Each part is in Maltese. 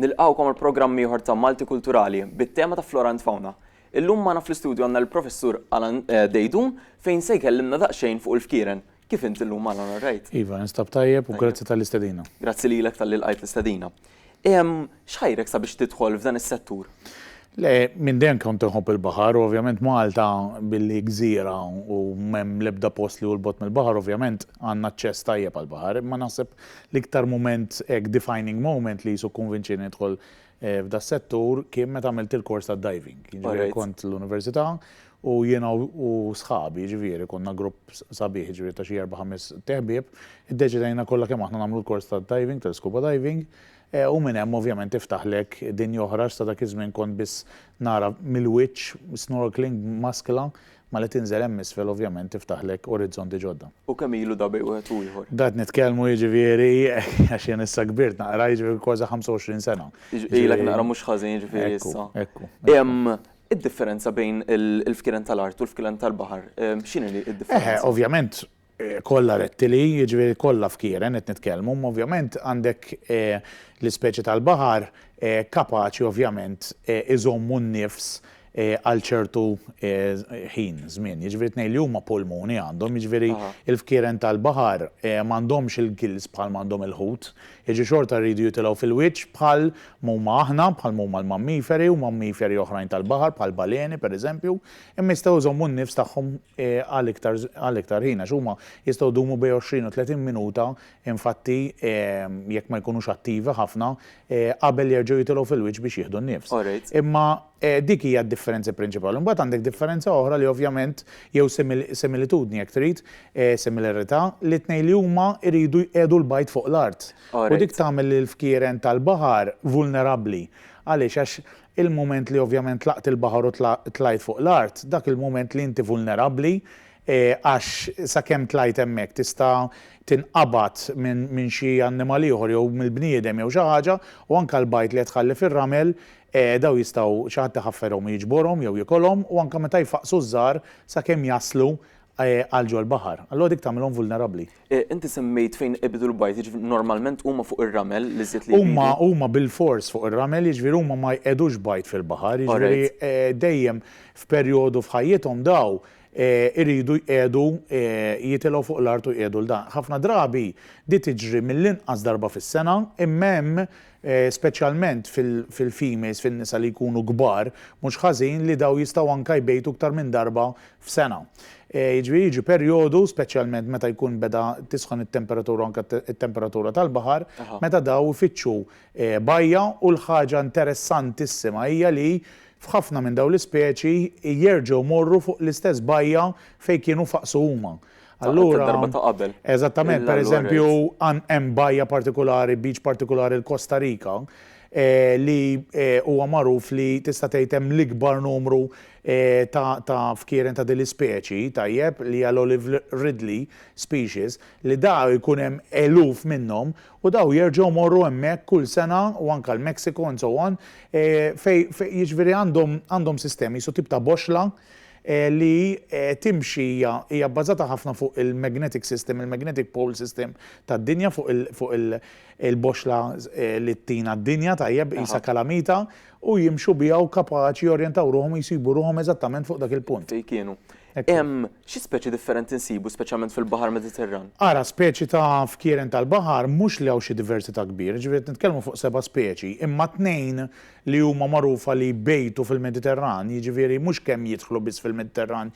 Nilqgħukom għal programm ieħor ta' Malti Kulturali bit-tema ta' Flora and Fauna. Illum magħna fl-istudju għandna lill-Professur Alan Deidun fejn se jkellimna daqsxejn fuq il-fkieren. Kif int illum Alan all right? Iva, ninstab tajjeb u grazzi tal-istedina. Grazzi lilek talli lqajt l-istedina. X'ħajrek sabiex tidħol f'dan is-settur? Le, minn dejjem kont inħobb il-baħar u ovvjament Malta billi gżira u m'hemm l-ebda post li hu 'l bogħod mill-baħar ovvjament għandna aċċess tajjeb għall-baħar imma naħseb l-iktar mument hekk defining moment li qisu kkonvinċieni nidħol f'das-settur kien meta għamilt il-kors tad-diving. Jiġifieri kont l-università u jiena u sħabi jiġifieri konna grupp sabiħ jiġifieri ta' xi erba' ħames teħbieb iddeċidejna kollha kemm aħna nagħmlu l-kors tad-diving, tal-scuba diving, U minn hemm ovvjament tiftaħlek dinja oħra għax sa dak iż-żmien kont biss nara mill-wiċċ, snorkeling b'maskla, ma li tinżel hemm isfel ovvjament tiftaħlek orizzonti ġodda. U kemm ilu da bejn wieħed u ieħor? Da qed nitkellmu jiġifieri, għax jien issa kbirt naqra, jiġifieri kważi 25 sena. Ilek naqra mhux ħażin jiġifieri issa. Ekku, ekku. Id-differenza bejn il-fkiren tal-art u l-fkiren tal-baħar, x'inhi d-differenza? Eħe, ovvjament, kollha rettili, jiġifieri kollha fkieren qed nitkellmu, imma ovvjament għandek l-ispeċi tal-baħar kapaċi ovvjament iżommu n-nifs għal ċertu ħin, żmien. Jiġifieri tnejn li huma pulmuni għandhom, jiġifieri l-fkieren tal-baħar m'għandhomx il-gills bħal ma għandhom il-ħut, jiġifieri xorta jridu jitilgħu fil-wiċċ bħal m'huma aħna, bħal m'huma l-mammiferi u mammiferi oħrajn tal-baħar bħall-baleni pereżempju, Imma jistgħu jżommu n-nifs tagħhom għal iktar ħin, għax huma jistgħu jdumu bejn 20 u 30 minuta, infatti, jekk ma jkunux attivi ħafna, qabel jerġgħu jitilgħu fil-wiċċ biex jieħdu n-nifs. Imma dik hija d-differenza prinċipali. Imbagħad għandek differenza oħra li ovvjament, jew similitudni jekk trid, similarità, li t-tnejn li huma jridu jqiegħdu l-bajd fuq l-art. U dik tagħmel lill-fkieren tal-baħar vulnerabbli. Għaliex? Għax il-mument li ovvjament tlaqt il-baħar u tlajt fuq l-art, dak il-mument li inti vulnerabbli għax sakemm tlajt hemmhekk tista' tinqabad minn xi annimal ieħor jew mill-bniedem jew xi ħaġa u anke l-bajd li qed tħalli fir-ramel dawn jistgħu xi ħadd iħafferhom u jiġborhom jew jikolhom u anke meta jfaqqsu ż-żgħar sakemm jaslu għal ġol-baħar. Allura dik tagħmilhom vulnerabbli. Inti semmejt fejn ibidu l-bajd, jiġifieri normalment huma fuq ir-ramel l-iżjed li jbidu? Huma, huma bilfors fuq ir-ramel, jiġifieri huma ma jqegħdux bajd fil-baħar, jiġifieri dejjem f'perjodu f'ħajjithom daw iridu jqiegħdu jitilgħu fuq l-art u jqiegħdu l-dan. Ħafna drabi di tiġri mill-inqas darba fis-sena, imma hemm speċjalment fil-females, fin-nisa li jkunu kbar, mhux ħażin li dawn jistgħu anke jbejtu iktar minn darba f'sena. Jiġifieri jiġi perjodu, speċjalment meta jkun beda tisħon it-temperatura u anke t-temperatura tal-baħar, meta dawn ifittxu bajja u l-ħaġa interessantissima hija li f'ħafna minn dawn l-ispeċi jerġgħu jmorru fuq l-istess bajja fejn kienu faqsu huma. Allura. Darba ta' qabel. Eżattament, pereżempju, hemm bajja partikulari, beach partikulari l-Kosta Rika, li huwa magħruf li tista' tgħid hemm l-ikbar numru ta' fkieren ta' din l-ispeċi, tajjeb, li hija l-olive ridley species, li daw ikun hemm eluf minnhom u daw jerġgħu jmorru hemmhekk kull sena u anke l-Mexico and so on, fejn jiġifieri għandhom sistemi, jisu tip ta' boxxla, li timxi hija hija bbażata ħafna fuq il-magnetic system, il-magnetic pole system tad-dinja, fuq il fuq il il-boxxla li ttina d-dinja, tajjeb, qisha kalamita, u jimxu biha u kapaċi jorjentaw ruħhom u jsibu ruħhom eżattament fuq dak il-punt. Fejn kienu. Hemm xi speċi differenti nsibu speċjalment fil-Baħar Mediterran? Ara, speċi ta' fkieren tal-baħar mhux li hawn xi diversità kbira, ġifieri qed nitkellmu fuq seba' speċi, imma tnejn li huma magħrufa li jbejtu fil-Mediterran, jiġifieri mhux kemm jidħlu biss fil-Mediterran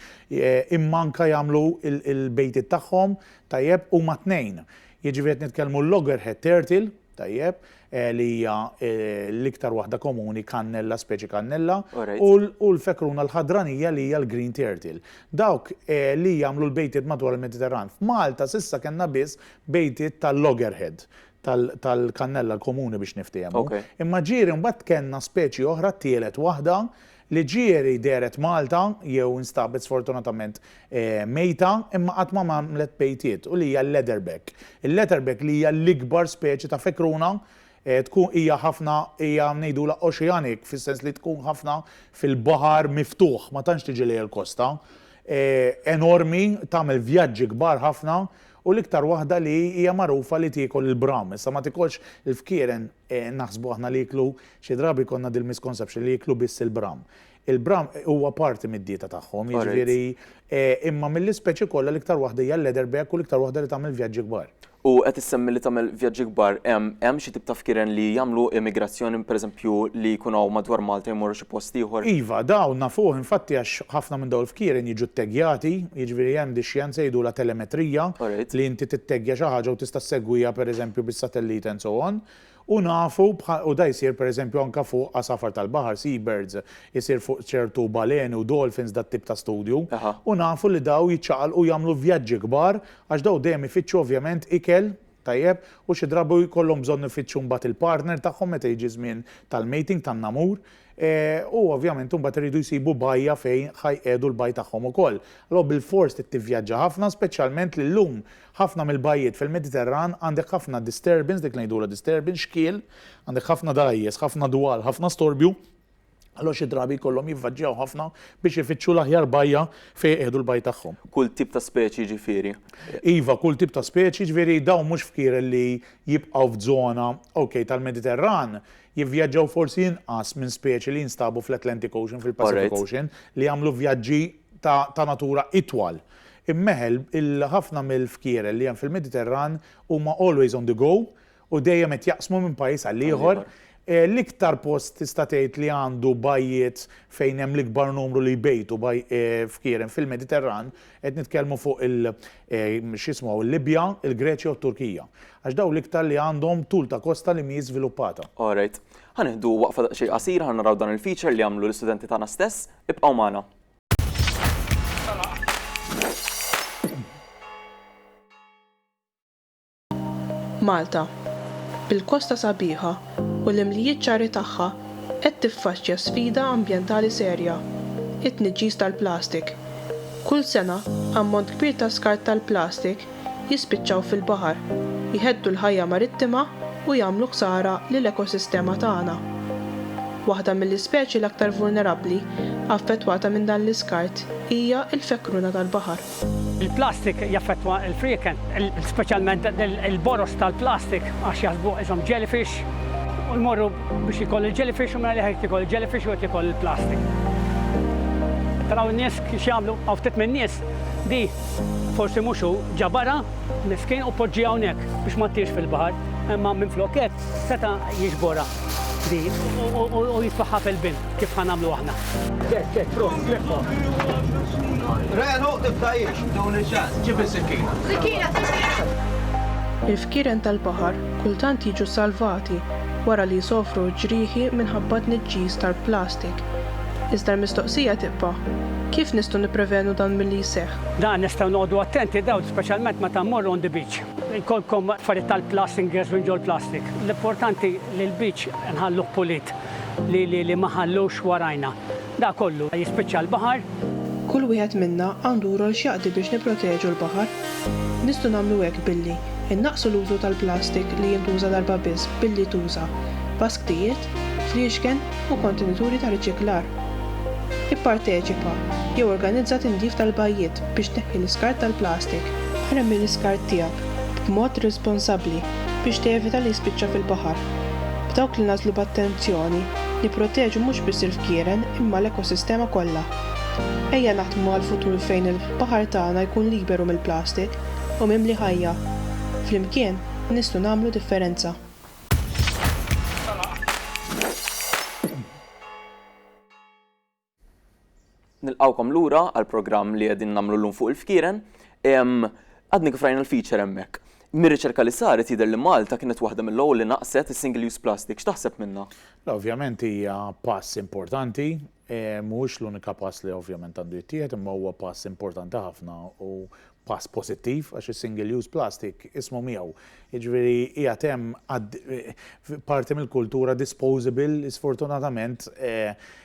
imma anke jagħmlu l-bejtiet tagħhom, tajjeb, huma tnejn. Jiġifieri qed nitkellmu l-loggerhead turtle, tajjeb, li hija l-iktar waħda komuni cannella, speċi cannella, u l-fekruna l-ħadranija li hija l-green turtle. Dawk li jagħmlu l-bejtiet madwar il-Mediterran. F'Malta s'issa kellna biss bejtiet tal-loggerhead, tal-kannella l-komuni biex niftiehmu. Imma ġieri mbagħad tkenna speċi oħra t-tielet waħda li ġieri dehret Malta jew instabet sfortunatament mejta imma qatt ma għamlet bejtiet u li hija l-leatherback. Il-leatherback li hija l-ikbar speċi ta' fekruna tkun hija ħafna hija ngħidulha oceanic fis-sens li tkun ħafna fil-baħar miftuħ ma tantx tiġi lejn il-kosta. Enormi tagħmel vjaġġi kbar ħafna U l-iktar waħda li hija magħrufa li tiekol il-bram. Issa ma tikolx il-fkieren, naħsbu aħna li jieklu, xi drabi jkollna dil-misconception li jieklu biss il-bram. Il-bram huwa parti mid-dieta tagħhom, jiġifieri imma mill-ispeċi kollha l-iktar waħda hija l-leatherback u l-iktar waħda li tagħmel vjaġġi kbar. U qed issemmi li tagħmel vjaġġi kbar, hemm xi tip ta' fkieren li jagħmlu emigrazzjoni, pereżempju li jkun hawn madwar Malta jmorru post ieħor. Iva, dawn nafuh infatti għax ħafna minn dawn il-fkieren jiġu tteggejati, jiġifieri hemm dix-xjenza jgħidulha telemetrija li inti titteggja xi ħaġa u tista' ssegwiha pereżempju bis-satellite and so on, u nafu u dan jsir pereżempju anke fuq għasafar tal-baħar, sea birds, isir fuq ċertu baleni u dolphins dat tip ta' studju, u nafu li dawn jiċċaqalqu jagħmlu vjaġġi kbar għax dawn dejjem ifittxu ovvjament ikel, Tajjeb, u xi drabi jkollhom bżonn ifittxu mbagħad il-partner tagħhom meta jiġi ż-żmien tal-mating, tan-namur, u ovvjament imbagħad iridu jsibu bajja fejn ħa jqiegħdu l-bajj tagħhom ukoll. Allura bilfors trid tivvjaġġa ħafna, speċjalment li llum ħafna mill-bajjiet fil-Mediterran għandek ħafna disturbance, dik li ngħidulha disturbance, xkiel, għandek ħafna dgħajjes, ħafna dwal, ħafna storbju, Allura xi drabi jkollhom jivvagġjaw ħafna biex ifittxu l-aħjar bajja fejn iqiegħdu l-bajd tagħhom. Kull tip ta' speċi jiġifieri? Iva, kull tip ta' speċi, jiġifieri dawn mhux fkieren li jibqgħu f'żona, okej, tal-Mediterran, jivvjaġġaw forsi inqas minn speċi li jinstabu fl-Atlantic Ocean, fil-Pacific Ocean, li jagħmlu vjaġġi ta' ta' natura itwal. Imma eħe, il-ħafna mill-fkieren li hemm fil-Mediterran huma always on the go u dejjem qed jaqsmu minn pajjiż għal ieħor, l-iktar post tista' tgħid li għandu bajjiet fejn hemm l-ikbar numru li jbejtu f'Kirem fil-Mediterran, qed nitkellmu fuq il x'jismu l-Libja, il-Greċja u t-Turkija. Għax dawn l-iktar li għandhom tul ta' kosta li mhijiex żviluppata. All right. Ħa nieħdu waqfa daqsxejn qasira ħa naraw dan il-feature li għamlu l-istudenti tagħna stess. Ibqgħu magħna. Malta, bil-kosta sabiħa u l-imlijiet ċari tagħha qed tiffaċċja sfida ambjentali serja, it-tniġġis tal-plastik. Kull sena ammont kbir ta' skart tal-plastik jispiċċaw fil-baħar, jheddu l-ħajja marittima u jagħmlu ħsara lill-ekosistema tagħna. Waħda mill-ispeċi l-aktar vulnerabbli affettwata minn dan l-iskart hija l-fekruna tal-baħar. Il-plastik jaffettwa l-frieken, speċjalment il-boroż tal-plastik għax jaħsbuh qishom jellyfish u jmorru biex jiekol il-jellyfish u mingħajr qed jiekol il-jellyfish u qed jiekol il-plastik. Taraw in-nies x'jagħmlu? Hawn ftit min-nies li forsi mhux hu ġabarha, miskin u poġġieha hawnhekk biex ma ttirx fil-baħar, imma minflok hekk Seta' jiġborha din u jitfagħha fil-bin kif ħa nagħmlu aħna. Ġest, ġest, prosit, leffa. Renu, tibdajiex, tuni ċans, ġib is-sikkina. Sikkina, sikkina! Il-fkieren tal-baħar kultant jiġu salvati wara li jsofru ġrieħi minħabba t-tniġġis tal-plastik. Iżda l-mistoqsija tibqa', kif nistgħu nipprevenu dan milli jseħħ? Dan nistgħu noqogħdu attenti dawl speċjalment meta mmorru on the beach. Jkollkom affarijiet tal-plastik ingress minn ġol-plastik. L-importanti li l-beach nħalluh pulit li li li ma ħallux warajna. Da kollu jispiċċa l-baħar. Kull wieħed minna għandu rol x'jaqdi biex nipproteġu l-baħar. Nistgħu nagħmlu hekk billi, innaqqsu l-użu tal-plastik li jintuża darba biss billi tuża, basktijiet, friexken, u kontenituri ta' riċiklar. Ipparteċipa jew organizza tindif tal-bajjiet biex tneħħi l-iskart tal-plastik. Armi l-iskart tiegħek b'mod responsabbli biex tevita li jispiċċa fil-baħar. B'dawk li nagħżlu b'attenzjoni, nipproteġu mhux biss il-fkieren imma l-ekosistema kollha. Ejja naħdmu għal futur fejn il-baħar tagħna jkun liberu mill-plastik u mimli ħajja. Flimkien nistgħu nagħmlu differenza. Nilqgħukom lura għall-programm li qegħdin nagħmlu llum fuq il-fkieren. Għadni kif rajna l-feature hemmhekk. Mir-riċerka li saret jidher li Malta kienet waħda mill-ewwel li naqqset is-single use plastic. X'taħseb minnha? Ovvjament hija pass importanti Mhuwiex l-unika pass li ovvjament għandu jittieħed imma huwa pass importanti ħafna u pass pożittiv għax is-single use plastic ismu miegħu. Jiġifieri qiegħed hemm parti mill-kultura disposable li sfortunatament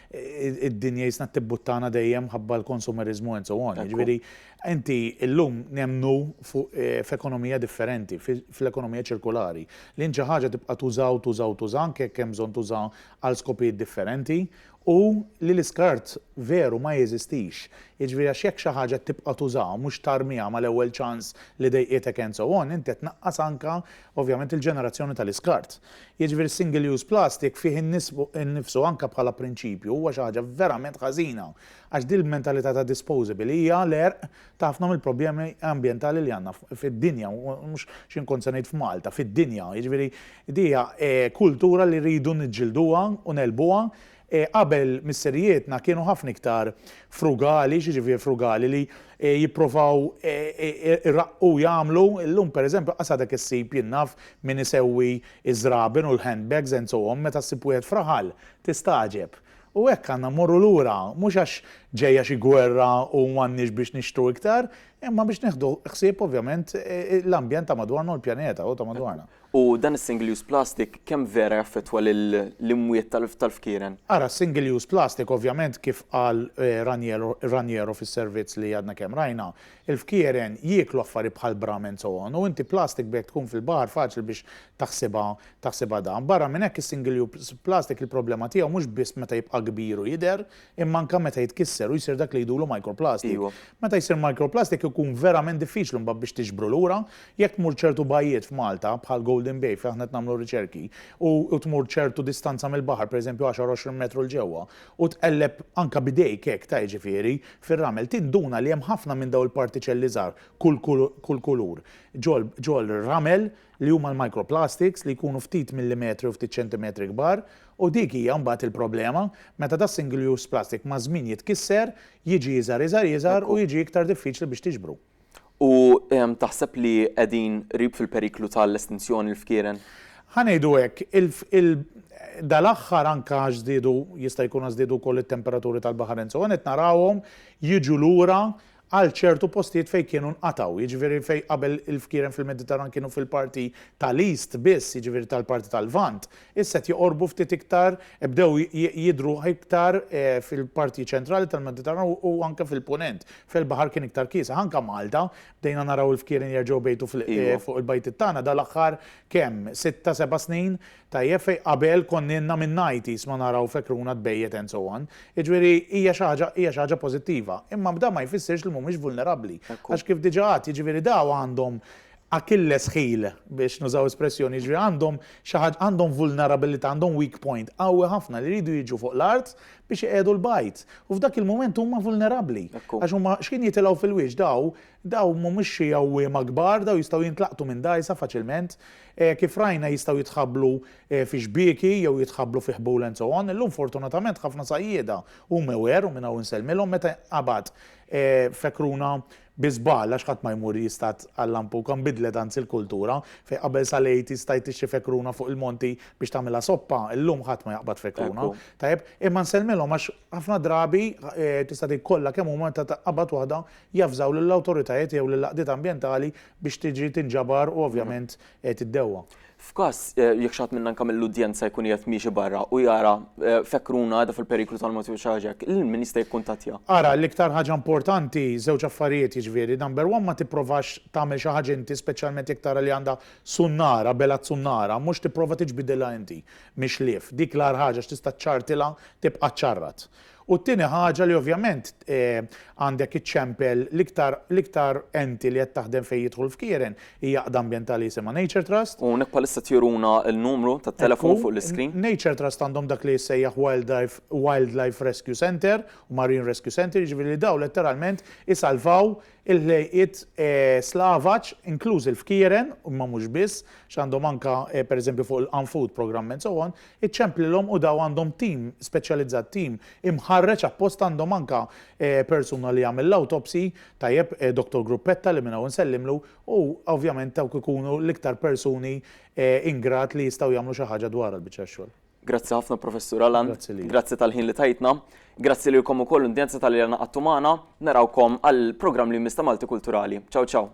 id-dinja jisna tibbuttana dejjem mħabba l-konsumeriżmu and so on. Jiġifieri inti llum nemmnu f'ekonomija differenti, fl-ekonomija ċirkulari. Li int xi ħaġa tibqa' tuża u tuża u tuża anke jekk hemm bżonn tuża għal skopijiet differenti. u li l-iskart veru ma jeżistix, jiġifieri għax jekk xi ħaġa tibqa' tużaha u mhux tarmiha mal-ewwel ċans li dejqitek and so on, inti qed tnaqqas anke ovvjament il-ġenerazzjoni tal-iskart. Jiġifieri s-single use plastic fih innifsu anke bħala prinċipju huwa xi ħaġa verament ħażina għax din il-mentalità ta' disposable hija l-għerq ta' ħafna mill-problemi ambjentali li għandna fid-dinja, mhux xi nkun se ngħid f'Malta, fid-dinja. Jiġifieri di hija kultura li rridu niġġilduha u negħlbuha. Qabel misserijietna kienu ħafna iktar frugali, x'jiġifieri frugali, li jipprovaw iraqqu jagħmlu, illum pereżempju qas għadek issib jien naf min isewwi ż-żraben u l-handbags and so on, meta ssib wieħed f'raħal tistagħġeb. U hekk għandna mmorru lura, mhux għax ġejja xi gwerra u m'għandniex biex nixtru iktar, imma biex nieħdu ħsieb ovvjament l-ambjent ta' madwarna u l-pjaneta u ta' madwarna. U dan is-single use plastic kemm vera jaffettwa lill-imwiet tal-fkieren? Ara, s-single use plastic ovvjament kif qal Raniero fis-servizz li għadna kemm rajna, Il-fkieren jieklu affarijiet bħal bramens u għon u inti plastic b'hekk tkun fil-baħar faċli biex taħsibha taħsibha dan. Barra minn hekk is-single use plastic il-problema tiegħu mhux biss meta jibqa' kbir u jidher imma anke meta jitkisser u jsir dak li jgħidulu microplastic. Meta jsir microplastic ikun verament diffiċli mbagħad biex tiġbru lura. Jekk tmur ċertu bajjiet f'Malta bħal Golden Bay fejn aħna qed nagħmlu riċerki u tmur ċertu distanza mill-baħar pereżempju għaxar għoxrin metru 'l ġewwa u tqelleb anke b'idejk hekk ta' jiġifieri, fir-ramel, tinduna li hemm ħafna minn dawn il-partiċelli żgħar, kull kull kulur, ġo l-ramel, li huma l-microplastics, li jkunu ftit millimetri u ftit ċentimetri kbar, u dik hija mbagħad il-problema, meta das-single-use plastic maż-żmien jitkisser, jiġi iżgħar iżgħar iżgħar u jiġi iktar diffiċli biex tiġbru. U taħseb li qegħdin qrib fil-periklu ta' l-estinzjoni l-fkieren? Ħa ngħidu hekk, dal-aħħar anke għax żdiedu, jista' jkun għax żdiedu wkoll it-temperaturi tal-baħar and so on, qed narawhom jiġu lura għal ċertu postijiet fejn kienu nqatgħu. Jiġifieri fejn qabel il-fkieren fil-Mediterran kienu fil-parti ta' l-East biss, jiġifieri tal-parti tal-Lvant, Issa qed joqorbu ftit iktar, bdew jidhru iktar fil-parti ċentrali tal-Mediterran u anke fil-Punent, fejn il-baħar kien iktar kiesaħ. Anke Malta, bdejna naraw il-fkieren jerġgħu jbejtu fuq il-bajtiet tagħna dal-aħħar kemm, sitta, seba' snin, tajjeb, fejn qabel konna ilna minn nineties ma naraw fekruna tbejjet and so on. Jiġifieri hija xi ħaġa, hija xi ħaġa pożittiva. Imma dan ma jfissirx li mhumiex vulnerabbli. Għax kif diġà għedt, jiġifieri dawn għandhom, Achilles heel, biex nużaw espressjoni, jiġifieri għandhom xi ħaġa, għandhom vulnerabilità, għandhom weak point qawwi ħafna li jridu jiġu fuq l-art biex iqiegħdu l-bajd. U f'dak il-mument huma vulnerabbli. Hekk hu. Għax huma xħin jitilgħu fil-wiċċ daw, daw mhumiex xi għawwiema kbar, daw jistgħu jintlaqtu minn dgħajsa faċilment. Kif rajna jistgħu jitħabblu fi xbieki jew jitħabblu fi ħbul and so on. Illum fortunatament ħafna sajjieda u mewher, u minn hawn insellmilhom, meta jinqabad fekruna, Bi żball, għax ħadd ma jmur jistad għal-lampuka, nbidlet anzi l-kultura, fejn qabel sal-Għid jistajt tixtri fekruna fuq il-monti biex tagħmilha soppa, illum ħadd ma jaqbad fekruna. Tajjeb, imma nsellmilhom għax ħafna drabi, tista' tgħid kollha kemm huma, meta tqabbad waħda, javżaw lill-awtoritajiet jew lill-għaqdiet ambjentali biex tiġi tinġabar u ovvjament qiegħed iddewwa. F'każ jekk xi ħadd minna anke mill-udjenza jkun qiegħed miexi barra u jara fekkruna qiegħda fil-periklu tal-mewt jew xi ħaġa hekk, lil min jista' jikkuntattja? Ara, l-iktar ħaġa importanti, żewġ affarijiet jiġifieri, number one ma tipprovax tagħmel xi ħaġa inti speċjalment jekk tara li għandha sunnara, bela t-sunnara, mhux tipprova tiġbidilha inti mix-xlief. Dik l-agħar ħaġa għax tista' ċċartilha tibqa' ċċarrat. U t-tieni ħaġa li ovvjament għandek iċċempel l-iktar l-iktar enti li qed taħdem fejn jidħol f'kieren hija għaqda ambjentali jisimha Nature Trust. U hawnhekk bħalissa qed juruna l-numru tat-telefon fuq l-iscreen. Ekku, Nature Trust għandhom dak li jissejjaħ Wildlife Wildlife Rescue Centre u Marine Rescue Centre, jiġifieri li dawn letteralment isalvaw Il-ħlejqiet Slavaġ, inklużi l-fkieren, imma mhux biss, x'għandhom anke pereżempju fuq il-An Food Programme and so on, iċċemplilhom u daw għandhom tim speċjalizzat, tim imħarreġ apposta għandhom anke persuna li jagħmel l-autopsy, tajjeb, Doctor Gruppetta li minn hawn insellimlu, u ovvjament dawk ikunu l-iktar persuni in grad li jistgħu jagħmlu xi ħaġa dwarha l-biċċa tax-xogħol. Grazzi ħafna Professur Alan. Grazzi li. Grazzi tal-ħin li tajtna. Grazzi lilkom ukoll l-indjenza tal-li għana għattu magħna. Narawkom għal programm li jmiss ta' Malti Kulturali. Ciao ciao.